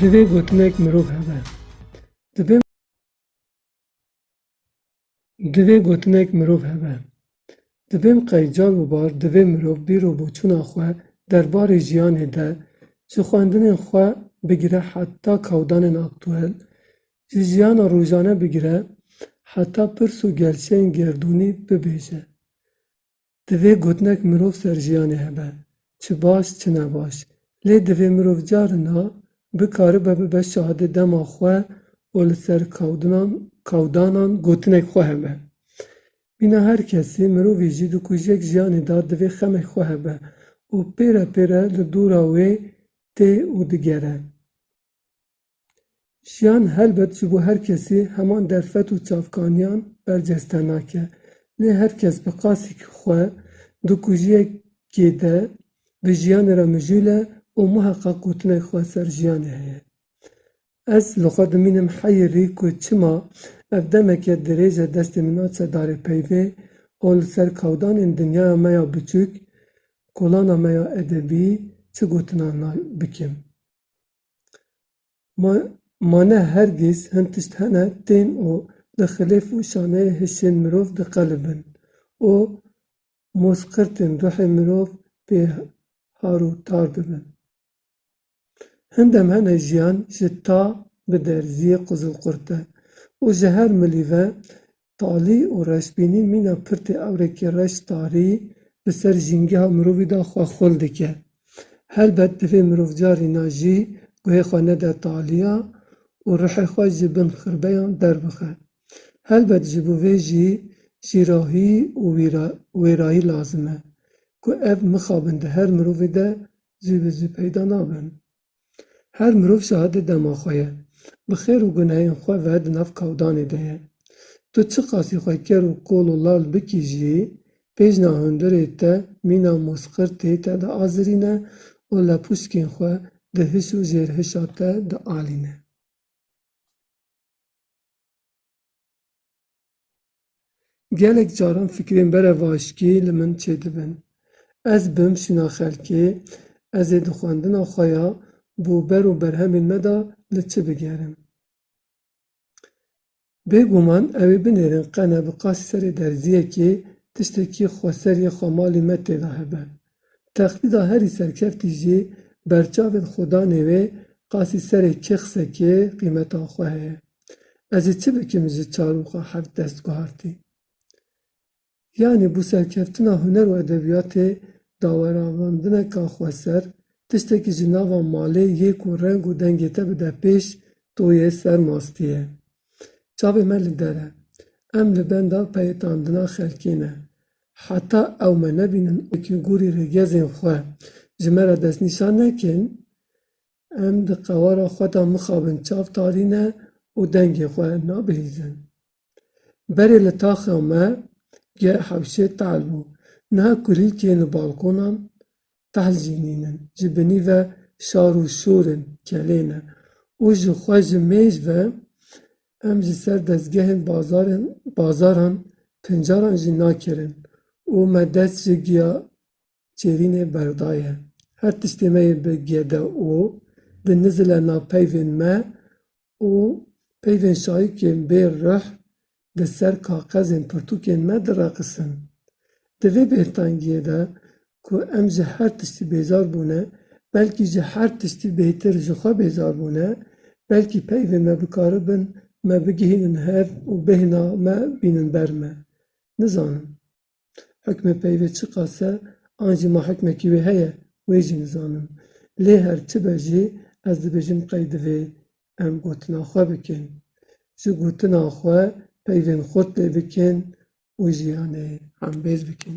Divê gotinek mirov hebe. Divê Divê gotinek mirov hebe. Divên qey car û bar divê mirov bîr û boçûna xwe derbarê jiyanê de ji xwendinên xwe bigire heta kawdanên aktuel Ji jiyana rojane bigire heta pirs û gerçeyên gerdûnî bibêje. Divê gotinek mirov ser jiyanê hebe, çi baş çi ne baş. Lê divê mirov carina bikaribe bibe şahidê dema xwe û li ser kawdinan kawdanan gotinek xwe hebe. Mîna her kesî, mirovî jî di kujek jiyanê de divê xemek xwe hebe û pêre pêre li dora wê tê û digere. Jiyan helbet ji bo her kesî heman derfet û çavkaniyan berceste nake. Lê her kes bi qasîkî xwe di kujiyekê de bi jiyanê re mijûl e û muheqa gotinek xwe ser jiyanê heye. Ez li xwe dimînim heyirî ku çima ev demeke dirêj e destê min a sedarê peyvê û li ser kawdanên dinyaya me ya biçûk, kolana me ya edebî çi gotinan bikim. Ma ne her giz hin tişt hene tên û li xilêf û şaneyê hişên mirov diqelibin û mozqirtên ruhê mirov pê har û tar dibin. Hin dem hene jiyan ji ta bi derziyê quzilqurte û ji her milî ve Talî û reşbînî mîna pirtê ewrekî reş tarî bi ser jîngeha mirovî de xwe xul dike. Helbet divê mirov carîna jî guhê xwe nede talîya û ruhê xwe ji bin xirbeyan derbixe. Helbet ji bo vê jî jîrahî û wêrayî lazim e. Ku ev mixabin di her mirovî de zû bi zû peyda nabin. Her mirov şahidê dema xwe ye. Bi xêr û gunehên xwe ve di nav kawdanê de ye. Tu çi qasî xwe ker û kol û lal bikî jî, pêjna hundirê te mîna mozqirtê te diazirîne û lepûşkên xwe di hiş û jêrhişa te dialîne. Gelek caran fikrên berevaşkî li min çêdibin. Ez bim şîna xelkê, ez ê di xwendina xwe ya bo ber û berhemên me de li çi bigerim. Bêguman ew ê binêrin qene bi qasî serê derziyekê tiştekî xweseriyê xwemalî me tê de hebe. Texlîda herî serkeftî jî berçavên xwedanê wê qasî serê kê xsekê qîmeta xwe heye. Ez ê çi bikim ji çarûxa heft dest guhartî. Yanî bû serkeftina huner û edebiyatê daweravandineka xweser, tiştekî ji nava malê yê ku reng û dengê te bide pêş to yê ser mastî ye. Çavê me li der e. Em li benda peyetandina xelkê ne. Heta ew me nebînin û wekî gorî rêgezên xwe ji me re destnîşan nekin, em di qewara xwe de mixabin çav tarîne û dengê xwe nabihîzin. Berê li taxa me ge hewşê tehl bû. Niha kulîlkên li balkonan tehlzînîn in, ji binî ve şar û şûr in, kelê ne û ji xwe ji mêj ve em ji ser dezgehên bazarên bazaran pincaran jî nakirin û me dest ji giya çêrînê berdaye. Her tiştê me yê bi gede û di nizile na peyvên me û peyvên şayikên bê rih di ser kaxezên pirtûkên me diraqisin. Di vê bêhtangiyê de ku em ji her tiştî bêzar bûne, belkî ji her tiştî bêhtir ji xwe bêzar bûne, belkî peyvên me bikaribin me bigihînin hev û bêhna me bînin ber me. Nizanim. Hukmê peyvê çiqas e an jî ma hukmekî wê heye wê jî nizanim. Lê her çi be jî ez dibêjim qey divê em gotina xwe bikin. Ji gotina xwe peyvên xurt lê bikin û jiyanê hembêz bikin.